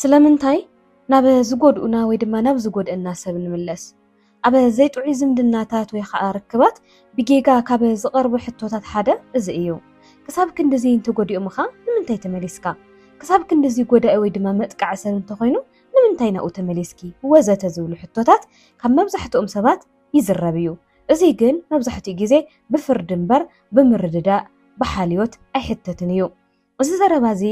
ስለምንታይ ናብ ዝጎድኡና ወይ ድማ ናብ ዝጎድእና ሰብ ንምለስ? ኣብ ዘይጥዑይ ዝምድናታት ወይ ኸኣ ርክባት ብጌጋ ካብ ዝቐርቡ ሕቶታት ሓደ እዚ እዩ። ክሳብ ክንድዚ እንተጎዲኦምኻ ንምንታይ ተመሊስካ? ክሳብ ክንድዚ ጎዳኢ ወይ ድማ መጥቃዒ ሰብ እንተኾይኑ ንምንታይ ናብኡ ተመሊስኪ? ወዘተ ዝብሉ ሕቶታት ካብ መብዛሕትኦም ሰባት ይዝረብ እዩ። እዙይ ግን መብዛሕትኡ ግዜ ብፍርዲ እምበር ብምርድዳእ፣ ብሓልዮት ኣይሕተትን እዩ። እዚ ዘረባ እዚ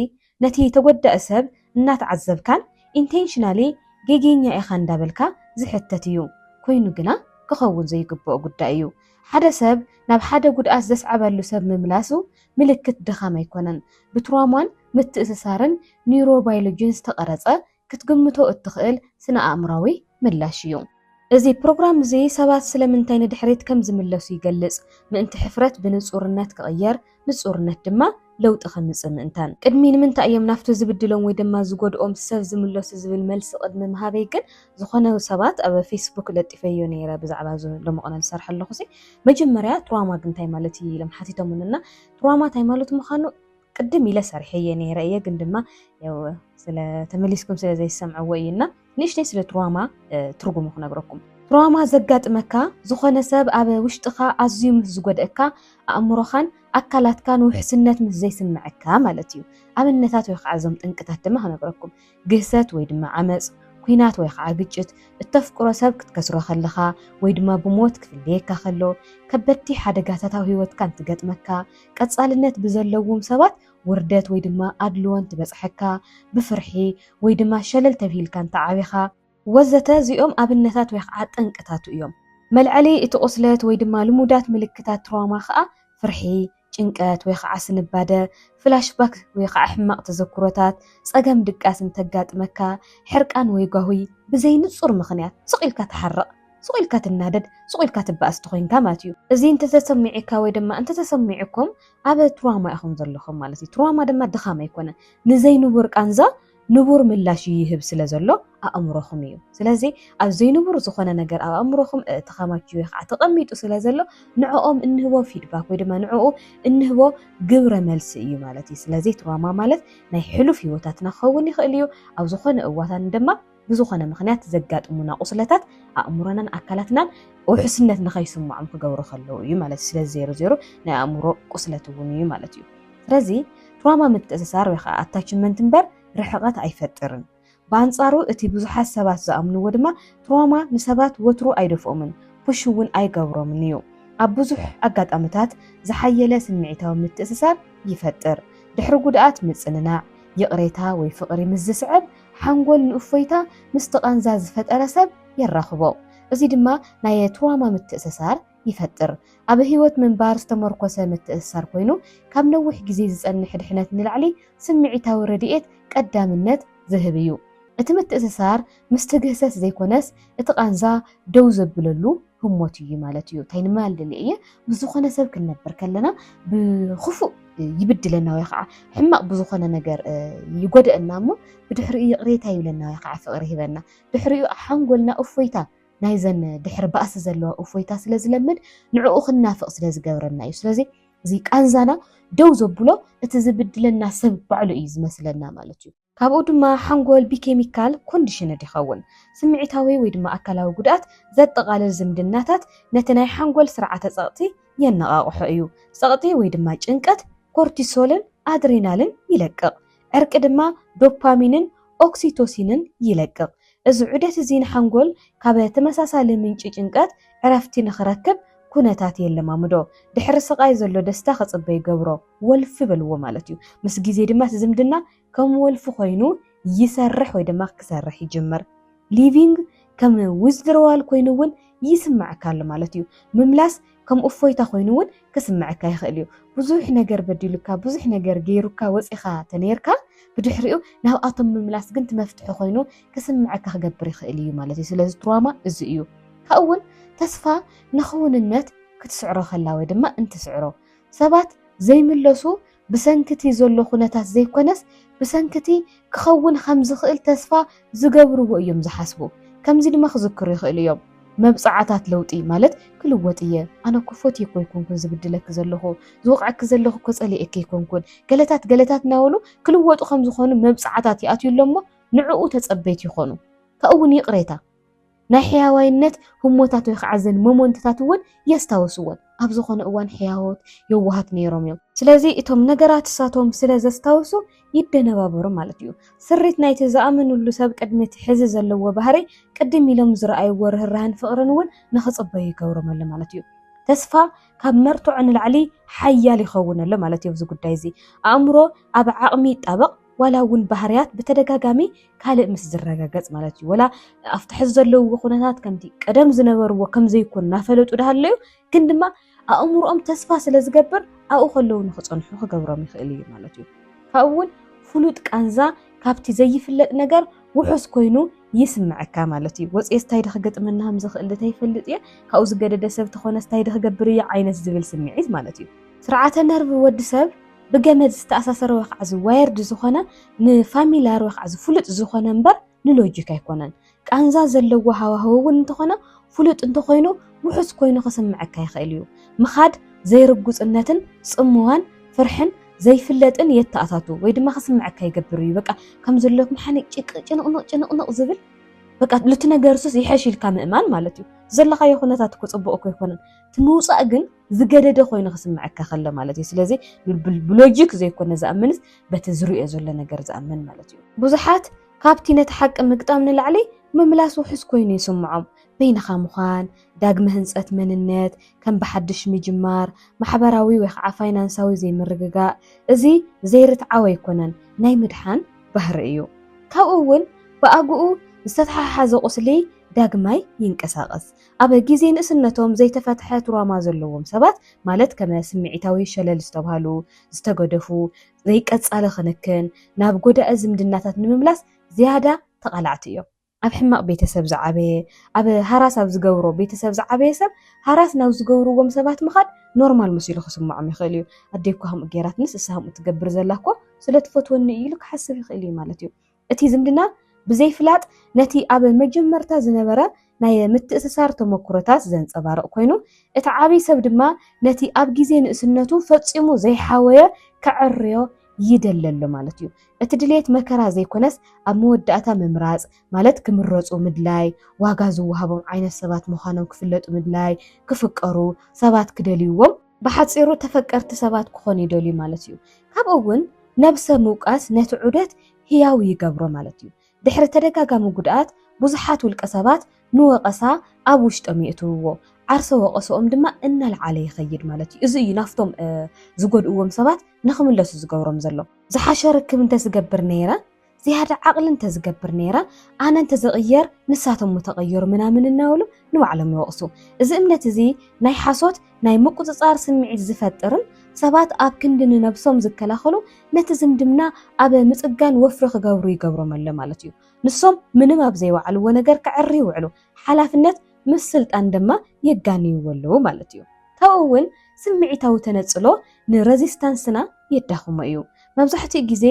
ነቲ ተጎዳኢ ሰብ እናተዓዘብካን ኢንቴንሽናሊ ጌጌኛ ኢኻ እንዳበልካ ዝሕተት እዩ። ኮይኑ ግና ክኸውን ዘይግበኦ ጉዳይ እዩ። ሓደ ሰብ ናብ ሓደ ጉድኣት ዘስዓበሉ ሰብ ምምላሱ ምልክት ድኻም ኣይኮነን። ብትራውማን ምትእስሳርን ኒውሮባይሎጂን ዝተቐረጸ ክትግምቶ እትኽእል ስነ-ኣእምሮኣዊ ምላሽ እዩ። እዚ ፕሮግራም እዚ ሰባት ስለምንታይ ንድሕሪት ከም ዝምለሱ ይገልጽ፣ ምእንቲ ሕፍረት ብንጹርነት ክቕየር፣ ንጹርነት ድማ ለውጢ ከምጽእ ምእንታን። ቅድሚ ንምንታይ እዮም ናብቲ ዝብድሎም ወይ ድማ ዝጎድኦም ሰብ ዝምለሱ ዝብል መልሲ ቅድሚ ምሃበይ ግን ዝኾነ ሰባት ኣብ ፌስቡክ ለጢፈዮ ነይረ ብዛዕባ እዚ ሎሚ ቅነ ዝሰርሖ ኣለኹሲ መጀመርያ ትራውማ እንታይ ማለት እዩ ኢሎም ሓቲቶሙኒ እና ትራውማ እንታይ ማለት ምዃኑ ቅድም ኢለ ሰሪሐየ ነይረ እየ ግን ድማ ያው ስለ ተመሊስኩም ስለ ዘይሰምዕዎ እዩ እና ንእሽተይ ስለ ትራማ ትርጉሙ ክነግረኩም ትራማ ዘጋጥመካ ዝኾነ ሰብ ኣብ ውሽጥኻ ኣዝዩ ምስ ዝጎድእካ ኣእምሮኻን ኣካላትካን ውሕስነት ምስ ዘይስምዐካ ማለት እዩ ኣብነታት ወይ ከዓ እዞም ጥንቅታት ድማ ክነግረኩም ግህሰት ወይ ድማ ዓመጽ፣ ኩናት ወይ ኸኣ ግጭት፣ እተፍቅሮ ሰብ ክትከስሮ ከለኻ ወይ ድማ ብሞት ክፍለየካ ከሎ፣ ከበድቲ ሓደጋታት ኣብ ህይወትካ እንትገጥመካ፣ ቀጻልነት ብዘለዉም ሰባት ውርደት ወይ ድማ ኣድልዎ እንትበጽሐካ፣ ብፍርሒ ወይ ድማ ሸለል ተብሂልካ እንተዓቢኻ፣ ወዘተ እዚኦም ኣብነታት ወይ ኸዓ ጠንቅታቱ እዮም። መልዐሊ እቲ ቁስለት ወይ ድማ ልሙዳት ምልክታት ትራውማ ኸዓ ፍርሒ፣ ጭንቀት ወይ ኸዓ ስንባደ፣ ፍላሽ ባክ ወይ ኸዓ ሕማቕ ተዘክሮታት፣ ፀገም ድቃስ እንተጋጥመካ፣ ሕርቃን ወይ ጓሁይ፣ ብዘይ ንፁር ምኽንያት ስቕ ኢልካ ትሓርቕ፣ ስቕ ኢልካ ትናደድ፣ ስቕ ኢልካ ትበኣስ ተኾይንካ ማለት እዩ። እዚ እንተተሰሚዒካ ወይ ድማ እንተተሰሚዑኩም ኣብ ትራውማ ኢኹም ዘለኹም ማለት እዩ። ትራውማ ድማ ድኻም ኣይኮነን። ንዘይንቡር ቃንዛ ንቡር ምላሽ እዩ ይህብ ስለ ዘሎ ኣእምሮኹም እዩ። ስለዚ ኣብ ዘይንቡር ዝኾነ ነገር ኣብ ኣእምሮኹም ተኸማች ወይ ከዓ ተቐሚጡ ስለ ዘሎ ንዕኦም እንህቦ ፊድባክ ወይ ድማ ንዕኡ እንህቦ ግብረ መልሲ እዩ ማለት እዩ። ስለዚ ትራማ ማለት ናይ ሕሉፍ ህይወታትና ክኸውን ይኽእል እዩ። ኣብ ዝኾነ እዋታን ድማ ብዝኾነ ምክንያት ዘጋጥሙና ቁስለታት ኣእምሮናን ኣካላትናን ውሕስነት ንኸይስምዖም ክገብሩ ከለዉ እዩ ማለት እዩ። ስለዚ ዜሮ ዜሮ ናይ ኣእምሮ ቁስለት እውን እዩ ማለት እዩ። ስለዚ ትራማ ምትእስሳር ወይ ኸኣ ኣታችመንት እምበር ርሕቐት ኣይፈጥርን። ብኣንጻሩ እቲ ብዙሓት ሰባት ዝኣምንዎ ድማ ትራማ ንሰባት ወትሩ ኣይደፍኦምን፣ ፑሽ እውን ኣይገብሮምን እዩ። ኣብ ብዙሕ ኣጋጣምታት ዝሓየለ ስምዒታዊ ምትእስሳር ይፈጥር። ድሕሪ ጉድኣት ምጽንናዕ፣ ይቕሬታ ወይ ፍቕሪ ምስ ዝስዕብ፣ ሓንጎል ንእፎይታ ምስቲ ቃንዛ ዝፈጠረ ሰብ የራኽቦ። እዚ ድማ ናየ ትራማ ምትእስሳር ይፈጥር። ኣብ ህይወት ምንባር ዝተመርኮሰ ምትእስሳር ኮይኑ፣ ካብ ነዊሕ ግዜ ዝጸንሕ ድሕነት ንላዕሊ ስምዒታዊ ረድኤት ቀዳምነት ዝህብ እዩ። እቲ ምትእስሳር ምስቲ ግህሰት ዘይኮነስ እቲ ቃንዛ ደው ዘብለሉ ህሞት እዩ ማለት እዩ። እንታይ ንማል ደልየ እየ፣ ምስ ዝኾነ ሰብ ክንነብር ከለና ብኽፉእ ይብድለና ወይ ከዓ ሕማቕ ብዝኾነ ነገር ይጎደአና እሞ ብድሕሪኡ ይቕሬታ ይብለና ወይ ከዓ ፍቕሪ ይህበና ድሕሪኡ ሓንጎልና እፎይታ ናይዘን ድሕሪ ባእሲ ዘለዋ እፎይታ ስለ ዝለምድ ንዕኡ ክንናፍቕ ስለ ዝገብረና እዩ። ስለዚ እዚ ቃንዛና ደው ዘብሎ እቲ ዝብድለና ሰብ ባዕሉ እዩ ዝመስለና ማለት እዩ። ካብኡ ድማ ሓንጎል ብኬሚካል ኮንዲሽንድ ይኸውን። ስምዒታዊ ወይ ድማ ኣካላዊ ጉድኣት ዘጠቓልል ዝምድናታት ነቲ ናይ ሓንጎል ስርዓተ ጸቕጢ የነቓቕሖ እዩ። ጸቕጢ ወይ ድማ ጭንቀት ኮርቲሶልን ኣድሬናልን ይለቅቕ። ዕርቂ ድማ ዶፓሚንን ኦክሲቶሲንን ይለቅቕ። እዚ ዑደት እዚ ንሓንጎል ካብ ተመሳሳሊ ምንጪ ጭንቀት ዕረፍቲ ንኽረክብ ኩነታት የለማምዶ። ድሕሪ ስቓይ ዘሎ ደስታ ክጽበ ይገብሮ። ወልፊ በልዎ ማለት እዩ። ምስ ግዜ ድማ እቲ ዝምድና ከም ወልፊ ኮይኑ ይሰርሕ ወይ ድማ ክሰርሕ ይጅምር። ሊቪንግ ከም ዊዝድሮዋል ኮይኑ እውን ይስመዓካ ኣሎ ማለት እዩ። ምምላስ ከም እፎይታ ኮይኑ እውን ክስምዐካ ይኽእል እዩ። ብዙሕ ነገር በዲሉካ፣ ብዙሕ ነገር ገይሩካ ወፂእኻ ተነይርካ ብድሕሪኡ ናብኣቶም ምምላስ ግን እቲ መፍትሒ ኮይኑ ክስምዐካ ክገብር ይኽእል እዩ ማለት እዩ። ስለዚ ትራማ እዚ እዩ። ካብኡ እውን ተስፋ ንክውንነት ክትስዕሮ ከላ ወይ ድማ እንትስዕሮ ሰባት ዘይምለሱ ብሰንኪ እቲ ዘሎ ኩነታት ዘይኮነስ ብሰንኪ እቲ ክኸውን ኸም ዝኽእል ተስፋ ዝገብርዎ እዮም ዝሓስቡ። ከምዚ ድማ ክዝክሩ ይኽእሉ እዮም፣ መብጽዓታት ለውጢ ማለት ክልወጥ እየ፣ ኣነ እኮ ፈትየኪ ኣይኮንኩን ዝብድለኪ ዘለኹ፣ ዝወቕዐኪ ዘለኹ እኮ ጸሊኤኪ ኣይኮንኩን፣ ገለታት ገለታት እናበሉ ክልወጡ ከም ዝኾኑ መብጽዓታት ይኣትዩሎም እሞ ንዕኡ ተጸበይቲ ይኾኑ። ካብኡ እውን ይቕሬታ። ናይ ሕያዋይነት ህሞታት ወይ ኸዓ እዘን ሞሞንትታት እውን የስታውስወን። ኣብ ዝኾነ እዋን ሕያዎት፣ የዋሃት ነይሮም እዮም። ስለዚ እቶም ነገራት እሳቶም ስለ ዘስታውሱ ይደነባበሩ ማለት እዩ። ስሪት ናይቲ ዝኣመንሉ ሰብ ቅድሚ እቲ ሕዚ ዘለዎ ባህርይ ቅድም ኢሎም ዝረኣይዎ ርህራህን ፍቕርን እውን ንክፅበዩ ይገብሮም ኣሎ ማለት እዩ። ተስፋ ካብ መርትዖ ንላዕሊ ሓያል ይኸውን ኣሎ ማለት እዩ። ኣብዚ ጉዳይ እዚ ኣእምሮ ኣብ ዓቕሚ ይጣበቕ፣ ዋላ እውን ባህርያት ብተደጋጋሚ ካልእ ምስ ዝረጋገጽ ማለት እዩ ወላ ኣብቲ ሕዚ ዘለውዎ ኩነታት ከምቲ ቀደም ዝነበርዎ ከም ዘይኮን እናፈለጡ ዳሃለዩ ግን ድማ ኣእምሮኦም ተስፋ ስለ ዝገብር ኣብኡ ከለዉ ንክጸንሑ ክገብሮም ይኽእል እዩ ማለት እዩ ካብኡ እውን ፍሉጥ ቃንዛ ካብቲ ዘይፍለጥ ነገር ውሑስ ኮይኑ ይስምዐካ ማለት እዩ ወፅኤ ስታይ ዶ ክገጥመና ከም ዝኽእል ተይፈልጥ እየ ካብኡ ዝገደደ ሰብ ተኾነ ስታይ ዶ ክገብር እየ ዓይነት ዝብል ስምዒት ማለት እዩ ስርዓተ ነርቭ ወዲ ሰብ ብገመድ ዝተኣሳሰረ ወይ ከዓ ዋየርድ ዝኾነ ንፋሚላር ወይ ከዓ ፍሉጥ ዝኾነ እምበር ንሎጂክ ኣይኮነን። ቃንዛ ዘለዎ ሃዋህው እውን እንተኾነ ፍሉጥ እንተኾይኑ ውሑስ ኮይኑ ክስምዐካ ይኽእል እዩ። ምኻድ ዘይርጉፅነትን ፅምዋን ፍርሕን ዘይፍለጥን የተኣታቱ ወይ ድማ ክስምዐካ ይገብር እዩ። በቃ ከም ዘለኩም ሓኒ ጭንቕንቕ ጭንቕንቕ ዝብል በቃ እቲ ነገርሱስ ይሐሽ ኢልካ ምእማን ማለት እዩ። ዘለኻዮ ኩነታት እኮ ፅቡቕ እኮ ኣይኮነን። እቲ ምውፃእ ግን ዝገደደ ኮይኑ ክስምዐካ ከሎ ማለት እዩ። ስለዚ ብሎጂክ ዘይኮነ ዝኣምንስ በቲ ዝርእዮ ዘሎ ነገር ዝኣምን ማለት እዩ። ብዙሓት ካብቲ ነቲ ሓቂ ምግጣም ንላዕሊ ምምላስ ውሑስ ኮይኑ ይስምዖም። በይንኻ ምዃን፣ ዳግመ ህንጸት መንነት፣ ከም ብሓድሽ ምጅማር፣ ማሕበራዊ ወይ ከዓ ፋይናንሳዊ ዘይምርግጋእ፣ እዚ ዘይርትዓው ኣይኮነን፣ ናይ ምድሓን ባህሪ እዩ። ካብኡ እውን ብኣግኡ ዝተተሓሓዘ ቁስሊ ዳግማይ ይንቀሳቐስ። ኣብ ግዜ ንእስነቶም ዘይተፈትሐ ትሮማ ዘለዎም ሰባት ማለት ከመ ስምዒታዊ ሸለል ዝተብሃሉ፣ ዝተገደፉ፣ ዘይቀጻሊ ክንክን፣ ናብ ጎዳኢ ዝምድናታት ንምምላስ ዝያዳ ተቓላዕቲ እዮም። ኣብ ሕማቕ ቤተሰብ ዝዓበየ፣ ኣብ ሃራስ ኣብ ዝገብሮ ቤተሰብ ዝዓበየ ሰብ ሃራስ ናብ ዝገብርዎም ሰባት ምኻድ ኖርማል መሲሉ ክስምዖም ይኽእል እዩ። ኣደይ እኳ ከምኡ ገይራትንስ እሳ ከምኡ ትገብር ዘላ እኮ ስለትፈትወኒ እዩ ኢሉ ክሓስብ ይኽእል እዩ ማለት እዩ። እቲ ዝምድና ብዘይፍላጥ ነቲ ኣብ መጀመርታ ዝነበረ ናይ ምትእስሳር ተመኩሮታት ዘንጸባርቕ ኮይኑ፣ እቲ ዓብይ ሰብ ድማ ነቲ ኣብ ግዜ ንእስነቱ ፈጺሙ ዘይሓወየ ከዐርዮ ይደሊ ኣሎ ማለት እዩ። እቲ ድሌት መከራ ዘይኮነስ ኣብ መወዳእታ ምምራጽ ማለት ክምረጹ ምድላይ፣ ዋጋ ዝወሃቦም ዓይነት ሰባት ምዃኖም ክፍለጡ ምድላይ፣ ክፍቀሩ፣ ሰባት ክደልይዎም፣ ብሓጺሩ ተፈቀርቲ ሰባት ክኾኑ ይደልዩ ማለት እዩ። ካብኡ'ውን ነብሰ ምውቃስ ነቲ ዑደት ህያው ይገብሮ ማለት እዩ። ድሕሪ ተደጋጋሚ ጉድኣት ብዙሓት ውልቀሰባት ንወቐሳ ኣብ ውሽጦም የእትውዎ፣ ዓርሰ ወቐሰኦም ድማ እናልዓለ ይኸይድ ማለት እዩ። እዚ እዩ ናብቶም ዝጎድእዎም ሰባት ንኽምለሱ ዝገብሮም ዘሎ። ዝሓሸ ርክብ እንተዝገብር ነይረ ዝያዳ ዓቕሊ እንተዝገብር ነይረ ኣነ እንተዝቕየር ንሳቶም ምተቐየሩ ምናምን እናበሉ ንባዕሎም ይወቕሱ። እዚ እምነት እዚ ናይ ሓሶት ናይ ምቁጽጻር ስምዒት ዝፈጥርን ሰባት ኣብ ክንዲ ንነብሶም ዝከላኸሉ ነቲ ዝምድና ኣብ ምጽጋን ወፍሪ ክገብሩ ይገብሮም ኣሎ ማለት እዩ። ንሶም ምንም ኣብ ዘይወዓልዎ ነገር ከዕሪ ይውዕሉ፣ ሓላፍነት ምስ ስልጣን ድማ የጋንይዎ ኣለዉ ማለት እዩ። ካብኡ እውን ስምዒታዊ ተነጽሎ ንረዚስታንስና የዳኽሞ እዩ። መብዛሕትኡ ግዜ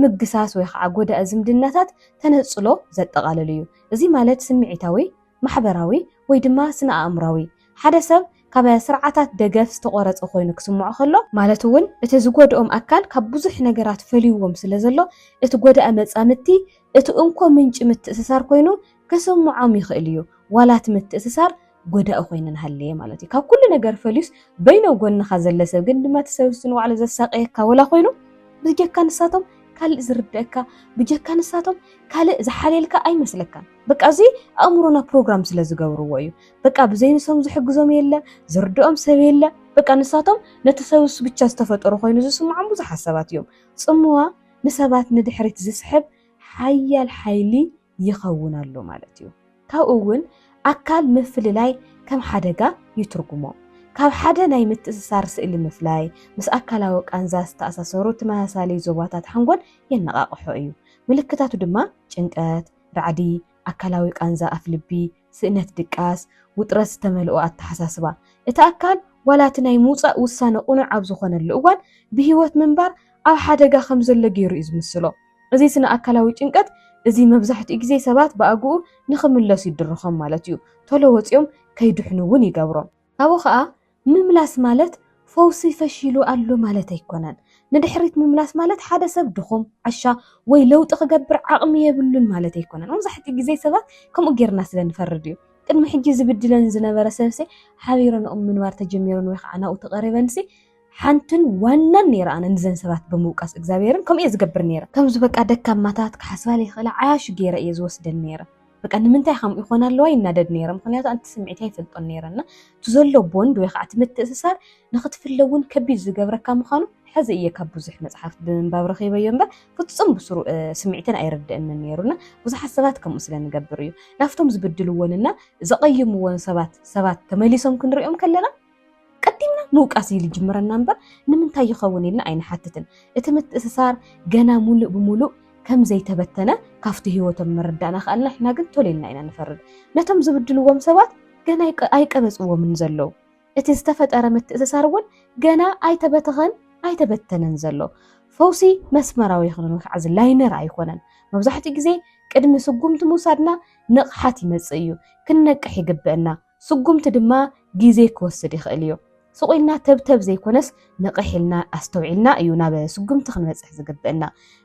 ምግሳስ ወይ ኸዓ ጎዳኢ ዝምድናታት ተነጽሎ ዘጠቓልል እዩ። እዚ ማለት ስምዒታዊ፣ ማሕበራዊ ወይ ድማ ስነ-ኣእምሮኣዊ፣ ሓደ ሰብ ካብ ስርዓታት ደገፍ ዝተቖረጸ ኮይኑ ክስምዖ ከሎ፣ ማለት እውን እቲ ዝጎድኦም ኣካል ካብ ብዙሕ ነገራት ፈልዩዎም ስለዘሎ፣ እቲ ጎዳኢ መጻምድቲ እቲ እንኮ ምንጪ ምትእስሳር ኮይኑ ከሰምዖም ይኽእል እዩ ዋላ እቲ ምትእስሳር ጎዳኢ ኮይኑ እንሃለየ ማለት እዩ ካብ ኩሉ ነገር ፈልዩስ በይኑ ኣብ ጎንኻ ዘለ ሰብ ግን ድማ እቲ ሰብስ ንባዕሉ ዘሳቅየካ ወላ ኮይኑ ብጀካ ንሳቶም ካልእ ዝርደእካ ብጀካ ንሳቶም ካልእ ዝሓልየልካ ኣይመስለካን በቃ እዚ ኣእምሮና ፕሮግራም ስለ ዝገብርዎ እዩ በቃ ብዘይ ንሶም ዝሕግዞም የለ ዝርድኦም ሰብ የለ በቃ ንሳቶም ነቲ ሰብስ ብቻ ዝተፈጠሩ ኮይኑ ዝስምዖም ብዙሓት ሰባት እዮም ጽምዋ ንሰባት ንድሕሪት ዝስሕብ ሓያል ሓይሊ ይኸውን ኣሎ ማለት እዩ። ካብኡ እውን ኣካል ምፍልላይ ከም ሓደጋ ይትርጉሞ። ካብ ሓደ ናይ ምትእስሳር ስእሊ ምፍላይ፣ ምስ ኣካላዊ ቃንዛ ዝተኣሳሰሩ ተመሳሳሊ ዞባታት ሓንጎል የነቓቕሖ እዩ። ምልክታቱ ድማ ጭንቀት፣ ራዕዲ፣ ኣካላዊ ቃንዛ ኣፍልቢ፣ ስእነት ድቃስ፣ ውጥረት ዝተመልኦ ኣተሓሳስባ። እቲ ኣካል ዋላ እቲ ናይ ምውጻእ ውሳነ ቅኑዕ ኣብ ዝኾነሉ እዋን ብህይወት ምንባር ኣብ ሓደጋ ከም ዘሎ ገይሩ እዩ ዝምስሎ። እዚ ስነ ኣካላዊ ጭንቀት እዚ መብዛሕትኡ ግዜ ሰባት ብኣግኡ ንኽምለሱ ይድርኾም ማለት እዩ። ቶሎ ወጺኦም ከይድሕኑ እውን ይገብሮም። ካብኡ ከኣ ምምላስ ማለት ፈውሲ ፈሺሉ ኣሎ ማለት ኣይኮነን። ንድሕሪት ምምላስ ማለት ሓደ ሰብ ድኹም፣ ዓሻ ወይ ለውጢ ክገብር ዓቕሚ የብሉን ማለት ኣይኮነን። መብዛሕትኡ ግዜ ሰባት ከምኡ ጌርና ስለ ንፈርድ እዩ። ቅድሚ ሕጂ ዝብድለኒ ዝነበረ ሰብሲ ሓቢረንኦም ምንባር ተጀሚረን ወይ ከኣ ናብኡ ተቐሪበንሲ ሓንትን ዋናን ነይረ ኣነ ንዘን ሰባት ብምውቃስ እግዚኣብሔርን ከምኡ እየ ዝገብር ነይረ ከምዚ በቃ ደካማታት ክሓስባ ለይኽእላ ዓያሹ ገይረ እየ ዝወስደን ነይረ በቃ ንምንታይ ከምኡ ይኾና ኣለዋ ይናደድ ነይረ ምክንያቱ ኣንቲ ስምዒት ኣይፈልጦን ነይረ እና እቲ ዘሎ ቦንድ ወይ ከዓ እቲ ምትእስሳር ንክትፍለ እውን ከቢድ ዝገብረካ ምዃኑ ሕዚ እየ ካብ ብዙሕ መፅሓፍቲ ብምንባብ ረኺበዮ እምበር ፍፁም ብስሩ ስምዒትን ኣይርድእንን ነይሩና ብዙሓት ሰባት ከምኡ ስለ ንገብር እዩ ናብቶም ዝብድልዎንና ዘቐይምዎን ሰባት ሰባት ተመሊሶም ክንሪኦም ከለና ቀዲምና ምውቃስ እዩ ዝጅምረና እምበር ንምንታይ ይኸውን ኢልና ኣይንሓትትን። እቲ ምትእስሳር ገና ሙሉእ ብሙሉእ ከም ዘይተበተነ ካብቲ ህይወቶም ምርዳእ ናኸኣልና ንሕና ግን ቶሎ ኢልና ኢና ንፈርድ። ነቶም ዝብድልዎም ሰባት ገና ኣይቀበፅዎምን ዘለው። እቲ ዝተፈጠረ ምትእስሳር እውን ገና ኣይተበተኸን ኣይተበተነን ዘሎ። ፈውሲ መስመራዊ ይኹንን ወይ ከዓ እዚ ላይነር ኣይኮነን። መብዛሕትኡ ግዜ ቅድሚ ስጉምቲ ምውሳድና ንቕሓት ይመፅእ እዩ። ክንነቅሕ ይግበእና። ስጉምቲ ድማ ግዜ ክወስድ ይኽእል እዩ። ስቕ ኢልና ተብተብ ዘይኮነስ ንቕሕ ኢልና ኣስተውዒልና እዩ ናብ ስጉምቲ ክንበጽሕ ዝግብእና።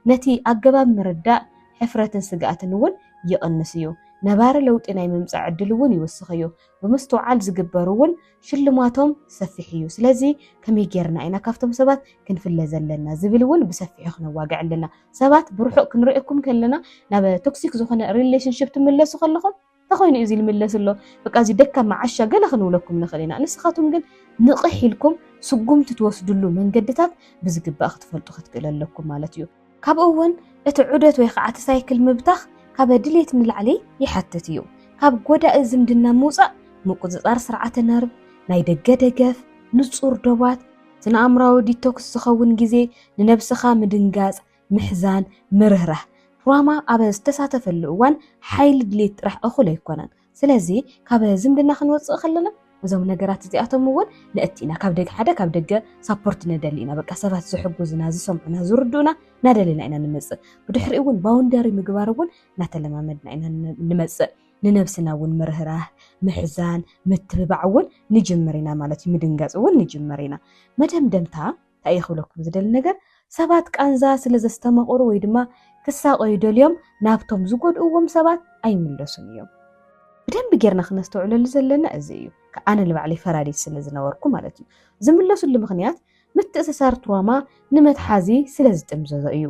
ነቲ ኣገባብ ምርዳእ ሕፍረትን ስግኣትን እውን ይቕንስ እዩ። ነባሪ ለውጢ ናይ ምምጻእ ዕድል እውን ይውስኽ እዩ። ብምስትውዓል ዝግበሩ እውን ሽልማቶም ሰፊሕ እዩ። ስለዚ ከመይ ጌርና ኢና ካብቶም ሰባት ክንፍለ ዘለና ዝብል እውን ብሰፊሑ ክነዋግዕ ኣለና። ሰባት ብርሑቕ ክንርእየኩም ከለና ናብ ቶክሲክ ዝኾነ ሪሌሽንሽፕ ትምለሱ ከለኹም እንተኾይኑ እዩ እዚ ዝምለስ ዘሎ በቃ እዚ ደካማ ዓሻ ገለ ክንብለኩም ንኽእል ኢና ንስኻትኩም ግን ንቕሕ ኢልኩም ስጉምቲ ትወስድሉ መንገድታት ብዝግባእ ክትፈልጡ ክትክእሉ ኣለኩም ማለት እዩ። ካብኡ እውን እቲ ዑደት ወይ ኸዓ እቲ ሳይክል ምብታኽ ካበ ድሌት ንላዕሊ ይሓትት እዩ። ካብ ጎዳኢ ዝምድና ምውፃእ፣ ምቁፅፃር ስርዓተ ነርቭ፣ ናይ ደገ ደገፍ፣ ንፁር ዶባት፣ ስነ ኣእምሮዊ ዲቶክስ ዝኸውን ግዜ፣ ንነብስኻ ምድንጋፅ፣ ምሕዛን፣ ምርህራህ ራማ ኣብ ዝተሳተፈሉ እዋን ሓይሊ ድሌት ጥራሕ እኹል ኣይኮነን። ስለዚ ካብ ዝምድና ክንወፅእ ከለና እዞም ነገራት እዚኣቶም እውን ንእቲ ኢና ካብ ደገ ሓደ ካብ ደገ ሳፖርት ንደሊ ኢና በቃ ሰባት ዝሕጉዝና ዝሰምዑና ዝርድኡና እናደለና ኢና ንመፅእ ብድሕሪ እውን ባውንደሪ ምግባር እውን እናተለማመድና ኢና ንመፅእ ንነብስና እውን ምርህራህ ምሕዛን ምትብባዕ እውን ንጅምር ኢና ማለት እዩ ምድንጋፅ እውን ንጅምር ኢና መደምደምታ እንታይ እየ ክብለኩም ዝደሊ ነገር ሰባት ቃንዛ ስለ ዘስተማቕሩ ወይ ድማ ክሳቐዩ ደልዮም ናብቶም ዝጎድእዎም ሰባት ኣይምለሱን እዮም። ብደንቢ ጌርና ክነስተውዕለሉ ዘለና እዚ እዩ። ኣነ ንባዕለይ ፈራዲት ስለ ዝነበርኩ ማለት እዩ። ዝምለሱሉ ምኽንያት ምትእስሳር ትሮማ ንመትሓዚ ስለ ዝጥምዘዞ እዩ።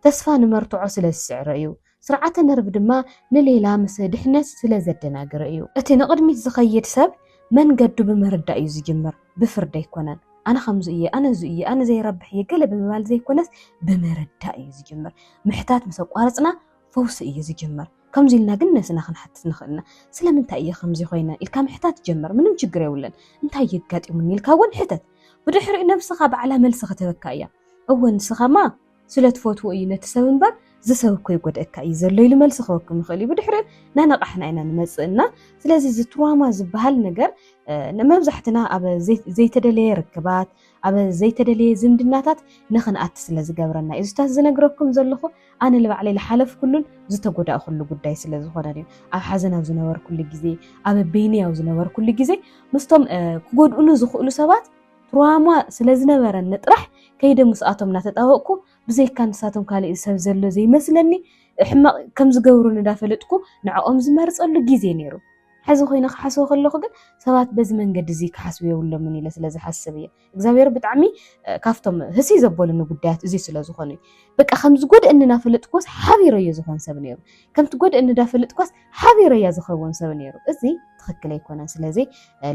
ተስፋ ንመርትዖ ስለ ዝስዕሮ እዩ። ስርዓተ ነርቭ ድማ ንሌላ ምስ ድሕነት ስለ ዘደናግር እዩ። እቲ ንቕድሚት ዝኸይድ ሰብ መንገዱ ብምርዳእ እዩ ዝጅምር፣ ብፍርዲ ኣይኮነን። ኣነ ከምዚ እየ፣ ኣነ እዚ እየ፣ ኣነ ዘይረብሕ እየ ገለ ብምባል ዘይኮነስ ብምርዳእ እዩ ዝጅምር። ምሕታት ምስ ኣቋረጽና ፈውሲ እዩ ዝጅምር። ከምዚ ኢልና ግን ነብስና ክንሓትት ንኽእል ኢና። ስለምንታይ እየ ከምዚ ኮይነ? ኢልካ ምሕታት ጀምር፣ ምንም ችግር የብሉን። እንታይ እዩ ኣጋጢሙኒ? ኢልካ እውን ሕተት። ብድሕሪኡ ነብስኻ ባዕላ መልሲ ክትህበካ እያ። እወ ንስኻማ! ስለ ትፈትዎ እዩ ነቲ ሰብ እምበር እዚ ሰብ እኮ ይጎድኣካ እዩ ዘሎ ኢሉ መልሲ ክህበኩም ይኽእል እዩ። ብድሕሪኡ እናነቓሕና ኢና ንመጽእ እና ስለዚ እዚ ትራውማ ዝበሃል ነገር መብዛሕትና ኣብ ዘይተደለየ ርክባት ኣብ ዘይተደለየ ዝምድናታት ንኽንኣቲ ስለ ዝገብረና እዩ እዚታት ዝነግረኩም ዘለኹ ኣነ ንባዕለይ ዝሓለፍኩሉን ዝተጎዳእኩሉ ጉዳይ ስለ ዝኾነ እዩ ኣብ ሓዘን ኣብ ዝነበርኩሉ ግዜ ኣብ በይነይ ኣብ ዝነበርኩሉ ግዜ ምስቶም ክጎድኡኒ ዝኽእሉ ሰባት ትርዋማ ስለ ዝነበረኒ ጥራሕ ከይደ ምስኣቶም እናተጣበቕኩ ብዘይካ ንሳቶም ካልእ ሰብ ዘሎ ዘይመስለኒ ሕማቕ ከም ዝገብሩኒ እንዳፈለጥኩ ንዕኦም ዝመርጸሉ ግዜ ነይሩ። ሕዚ ኮይነ ክሓስቦ ከለኹ ግን ሰባት በዚ መንገዲ እዚ ክሓስቡ የብሎምን ኢለ ስለ ዝሓስብ እየ። እግዚኣብሔር ብጣዕሚ ካብቶም ህስይ ዘበሉኒ ጉዳያት እዚ ስለ ዝኾኑ እዩ። በቃ ከም ዝጎድእኒ እናፈለጥኩዎስ ሓቢረዮ ዝኾን ሰብ ነይሩ። ከም ትጎድእኒ እንዳፈለጥኳስ ሓቢረያ ዝኸውን ሰብ ነይሩ። እዚ ትኽክል ኣይኮነን። ስለዚ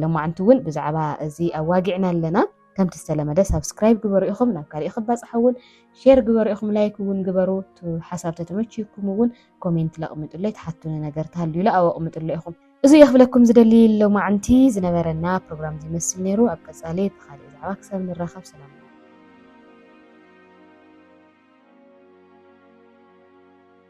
ሎማዕንቲ እውን ብዛዕባ እዚ ኣዋጊዕና ኣለና። ከምቲ ዝተለመደ ሳብስክራይብ ግበሩ ኢኹም ናብ ካሊእ ክባፃሕ እውን ሼር ግበሩ ኢኹም ላይክ እውን ግበሩ ሓሳብ ተተመችዩኩም እውን ኮሜንት ለቕምጡለይ ትሓቱኒ ነገር ተሃልዩ ለ ኣወቕምጡለ ኢኹም እዚ እየ ክብለኩም ዝደሊ ሎማዕንቲ ዝነበረና ፕሮግራም ዝመስል ነይሩ ኣብ ቀፃሊ ብካሊእ ዛዕባ ክሳብ ንራኸብ ሰላም